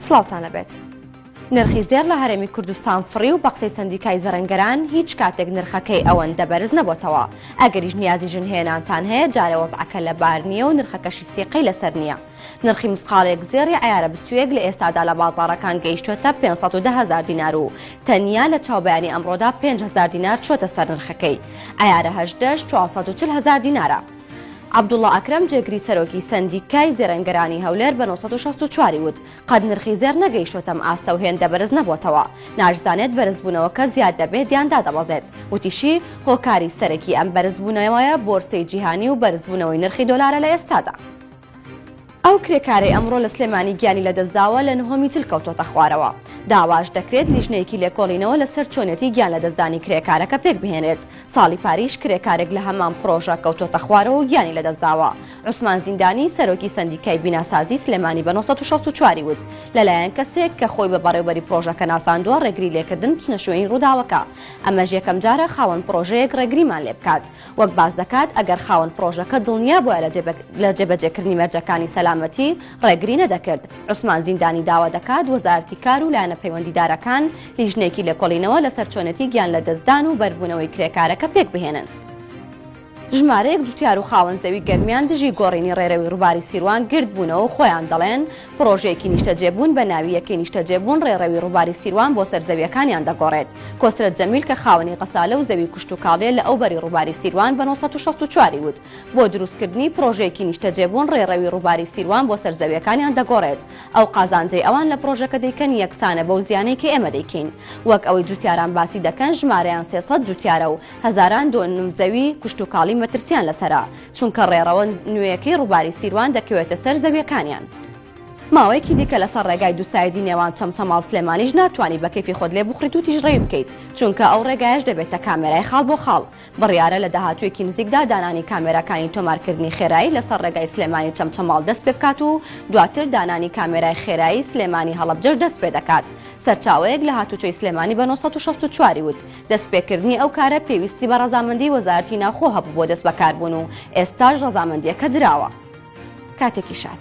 سڵاوتان لەبێت. نرخی زێڕ لە هەرێمی کوردستان فڕی و بە قسەی سەندیکای زەرەنگەران هیچ کاتێک نرخەکەی ئەوەندە بەرز نەبۆتەوە، ئەگەریش نیازی ژن هێنانتان هەیە جارێ وەزعەکە لەبار نییە و نرخەکەشی سیقەی لەسەر نییە. نرخی مسقاڵێک زێڕی عەیارە بستوویەک لە ئێستادا لە بازاڕەکان گەیشتووەتە پێنج سەد و دە هەزار دینار و تەنیا لە چاوبەیانی ئەمڕۆدا پێنج هەزار دینار چووەتە سەر نرخەکەی عەیارە هەژدەش چوار سەد و چل هەزار دینارە. عەبدوڵا ئەکرەم جێگری سەرۆکی سەندیکای زێرەنگەرانی هەولێر بە نۆ سەد و شەست و چوار ی وت، قەت نرخی زێڕ نەگەیشتۆتەم ئاستە و هێندە بەرز نەبۆتەوە، ناشزانێت بەرزبوونەوەکە زیاد دەبێت یان دادەبەزێت، وتیشی، هۆکاری سەرەکی ئەم بەرزبوونەوەیە بۆرسەی جیهانی و بەرزبوونەوەی نرخی دۆلارە لە ئێستادا. ئەو کرێکارەی ئەمڕۆ لە سلێمانی گیانی لەدەستداوە لە نهۆمی تل کەوتۆتە خوارەوە، داواش دەکرێت لیژنەیەکی لێکۆڵینەوە لەسەر چۆنێتی گیان لەدەستدانی کرێکارەکە پێکبهێنرێت، ساڵی پاریش کرێکارێک لە هەمان پڕۆژە کەوتۆتە خوارەوە و گیانی لەدەستداوە، عوسمان زیندانی سەرۆکی سەندیکای بیناسازی سلێمانی بە نۆ سەد و شەست و چوار ی وت لەلایەن کەسێک کە خۆی بە بەڕێوبەری پڕۆژەکە ناساندوە ڕێگری لێکردن بچنە شوێنی ڕوداوەکە ئەمەش یەکەمجارە خاوەن پڕۆژەیەک ڕێگریمان لێبکات وەک باس دەکات ئەگەر خاوەن پڕۆژەکە دڵنیا بوایە لە جێبەجێکردنی مەرجەکانی سەلامەتی ڕێگری نەدەکرد. عوسمان زیندانی داوا دەکات وەزارەتی کار و لایەنە پەیوەندیدارەکان لیژنەیەکی لێکۆڵینەوە لەسەر چۆنێتی گیانلەدەستدان و بەربوونەوەی کرێکارەکە پێکبهێنن. ژمارەیەک جوتیار و خاوەن زەوی گەرمیان دژی گۆڕینی ڕێرەوی ڕووباری سیروان گردبوونەوە و خۆیان دەڵێن، پڕۆژەیەکی نیشتەجێبوون بە ناوی یەکەی نیشتەجێبوون ڕێڕەوی ڕووباری سیروان بۆ سەر زەوییەکانیان دەگۆڕێت. کۆسرەت جەمیل کە خاوەنی غەسالە و زەوی کوشتوکاڵییە لە ئەو بەری ڕووباری سیروان بە نۆ سەد و شەست و چوار ی وت، بۆ دروستکردنی پڕۆژەیەکی نیشتەجێبوون ڕێڕەوی ڕووباری سیروان بۆ سەر زەوییەکانیان دەگۆڕێت. ئەو قازانجەی ئەوان لە پڕۆژەکە دەیکەن یەکسانە بەو زیانەی کە ئێمە دەیکەین. وەک ئەوەی جووتیاران باسی دەکەن ژمارەیان سێ سەد جووتیارە و هەزاران دۆنم زەوی کوشتوکاڵی مەترسییان لەسەرە. چونکە ڕێڕەوە نوێیەکەی ڕووباری سیروان دەکەوێتە سەر زەویەکانیان. ماوەیەکی دیکە لەسەر ڕێگای دووسایدی نێوان چەمچەماڵ سلێمانیش ناتوانی بە کەیفی خۆت لێ بوخریت و تیژڕەوی بکەیت چونکە ئەو ڕێگایەش دەبێتە کامێرای خاڵ بۆ خاڵ بڕیارە لە داهاتوویەکی نزیکدا دانانی کامێراکانی تۆمارکردنی خێرایی لەسەر ڕێگای سلێمانی چەمچەماڵ دەست پێ بکات و دواتر دانانی کامێرای خێرایی سلێمانی هەڵەبجەش دەست پێ دەکات سەرچاوەیەک لە هاتووچۆی سلێمانی بە نۆ سەد و شەست و چوار ی وت دەستپێکردنی ئەو کارە پێویستی بە ڕەزامەندی وەزارەتی ناوخۆ هەبوو بۆ دەستبەکاربوون و ئێستاش ڕەزامەندییەکە دراوە. کاتێکی شاد.